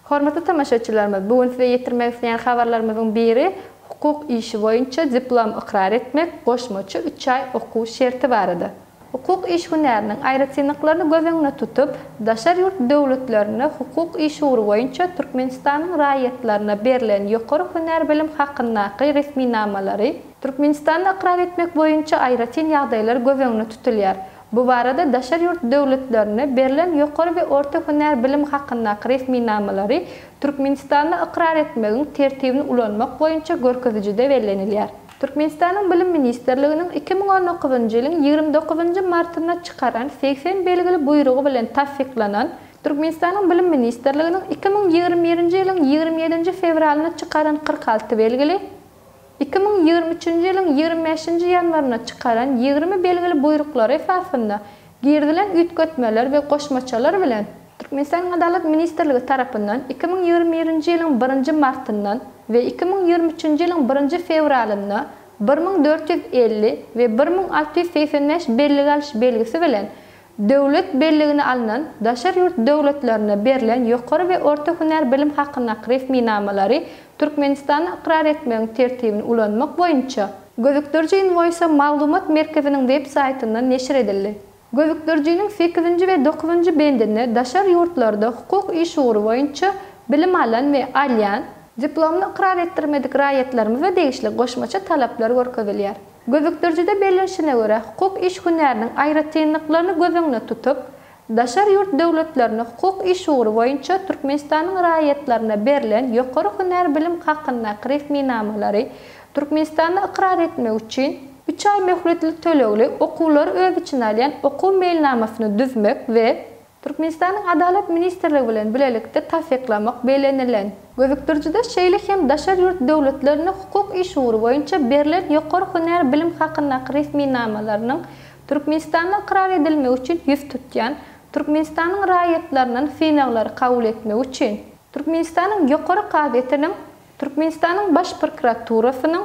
Hormatly tomaşaçylarymyz bu gün size ýetirmek isleýän habarlarymyzyň biri hukuk işi boýunça diplom ykrar etmek goşmaça üç aý okuw şerti barada. Hukuk iş hünäriniň aýratynlyklaryny göz öňüne tutup, daşary ýurt döwletlerinde hukuk iş ugry boýunça Türkmenistanyň raýatlaryna berlen ýokary hünär bilim hakyndaky resminamalary, Türkmenistanda ykrar etmek boýunça aýratyn ýagdaýlar göz öňüne tutulýar. Bu barada daşary ýurt döwletlerinde berlen ýokary we orta hünär bilim hakyndaky resminamalary Türkmenistanda ykrar etmegiň Tertibini ulanmak boýunça görkezijide bellenilýär. Türkmenistanyň Bilim ministrliginiň iki müň on dokuzynjy ýylyň ýigrimi dokuzynjy martynda çykaran segsen belgili buýrugy bilen tassyklanan, Türkmenistanyň Bilim ministrliginiň iki müň ýigrimi birinji ýylyň ýigrimi ýedinji fewralynda çykaran kyrk alty belgili, Iki müň ýigrimi üçünji ýylyň ýigrimi bäşinji ýanwarynda çykaran ýigrimi belgili buýruklary esasynda girizilen üýtgetmeler we goşmaçalar bilen, Türkmenistanyň Adalat ministrligi tarapyndan iki müň ýigrimi birinji ýylyň birinji martyndan we iki müň ýigrimi üçünji ýylyň birinji fewralynda bir müň dört ýüz elli we bir müň alty ýüz segsen bäş bellik alyş belgisi bilen Döwlet belligine alnan, daşary ýurt döwletlerinde berlen ýokary we orta hünär bilim hakyndaky resminamalary Türkmenistanda ykrar etmegiň tertibini ulanmak boýunça Gözükdiriji inwoýsa maglumat merkeziniň web saýtynda neşir edildi. Gözükdirijiniň sekizinji we dokuzynjy bendinde daşary ýurtlarda hukuk iş ugry boýunça bilim alan we alýan, diplomyny ykrar etdirmedik raýatlarymyza degişli goşmaça talaplar görkezilýär. Gözükdirijide bellenişine görä, hukuk iş hünäriniň aýratynlyklaryny göz öňüne tutup, daşary ýurt döwletlerinde hukuk iş ugry boýunça Türkmenistanyň raýatlaryna berlen ýokary hünär bilim hakyndaky resminamalary Türkmenistanda ykrar etmek üçin, üç aý möhletli tölegli okuwlary öz içine alýan okuw meýilnamasyny düzmek we Türkmenistanyň Adalat ministrligi bilen bilelikde tassyklamak bellenilen. Gözükdirijide şeýle hem daşary ýurt döwletlerine hukuk iş ugry boýunça berlen ýokary hünär bilim hakyndaky resminamalarynyň Türkmenistanda ykrar edilmegi üçin ýüz tutýan Türkmenistanyň raýatlaryndan synaglary kabul etmek üçin Türkmenistanyň Ýokary kazyýetiniň, Türkmenistanyň Baş prokuraturasynyň,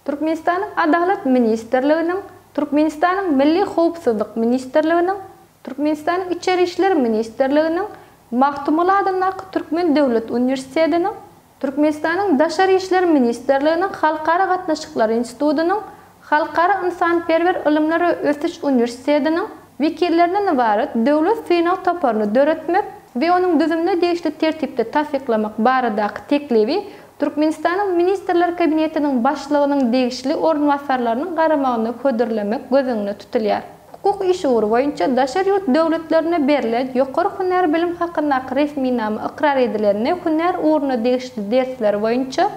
Türkmenistanyň Adalat ministrliginiň, Türkmenistanyň Milli howpsuzlyk ministrliginiň, Türkmenistanyň Içeri işler ministrliginiň, Magtymguly adyndaky Türkmen döwlet uniwersitetiniň, Türkmenistanyň Daşary işler ministrliginiň Halkara gatnaşyklary institutynyň, Halkara ynsanperwer ylymlar we ösüş uniwersitetiniň, wekillerinden ybarat döwlet synag toparyny döretmek we onuň düzümini degişli tertipde tassyklamak baradaky teklibi Türkmenistanyň Ministrler Kabinetiniň Başlygynyň degişli orunbasarlarynyň garamagyna hödürlemek göz öňünde tutulýar. Hukuk işi ugry boýunça daşary ýurt döwletlerinde berlen ýokary hünär bilim hakyndaky resminama ykrar edilende hünär ugruna degişli dersler boýunça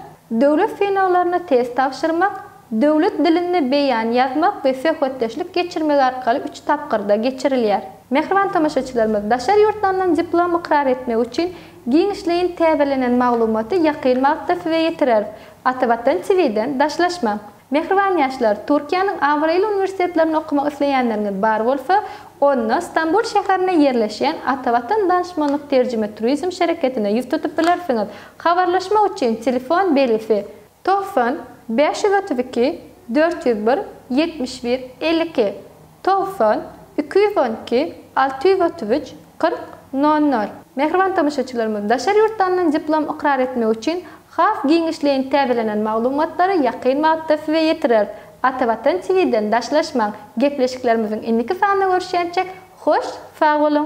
döwlet synaglaryna test tabşyrmak, Döwlet dilinde beýan ýazmak we söhbetdeşlik geçirmek arkaly üç tapgyrda geçirilýär. Mähriban tomaşaçylarymyz, daşary ýurtlardan diplom ykrar etmek üçin giňişleýin täzelenen maglumaty ýakyn wagtda size ýetireris. Atavatan TV-den daşlaşmaň! Mähriban ýaşlar, Türkiýäniň abraýly uniwersitetlerinde okamak isleýänleriňiz bar bolsa, onda Stambul şäherinde ýerleşýän Atavatan Danışmanlyk Terjime Turizm şereketine ýüz tutup bilersiňiz. Habarlaşmak üçin telefon belgisi. Togsan, bäş ýüz otuz iki, dört ýüz bir, ýetmiş bir, elli iki, togsan, iki ýüz on iki, alty ýüz otuz üç, kyrk, nol nol. Mähriban tomaşaçylarymyz, daşary ýurtdandan diplom ykrar etmek üçin has giňişleýin täzelenen maglumatlary ýakyn wagtda size ýetireris. Atavatan TV-den daşlaşmaň, gepleşiklerimiziň indiki sanynda görüşýänçäk, hoş, sag boluň!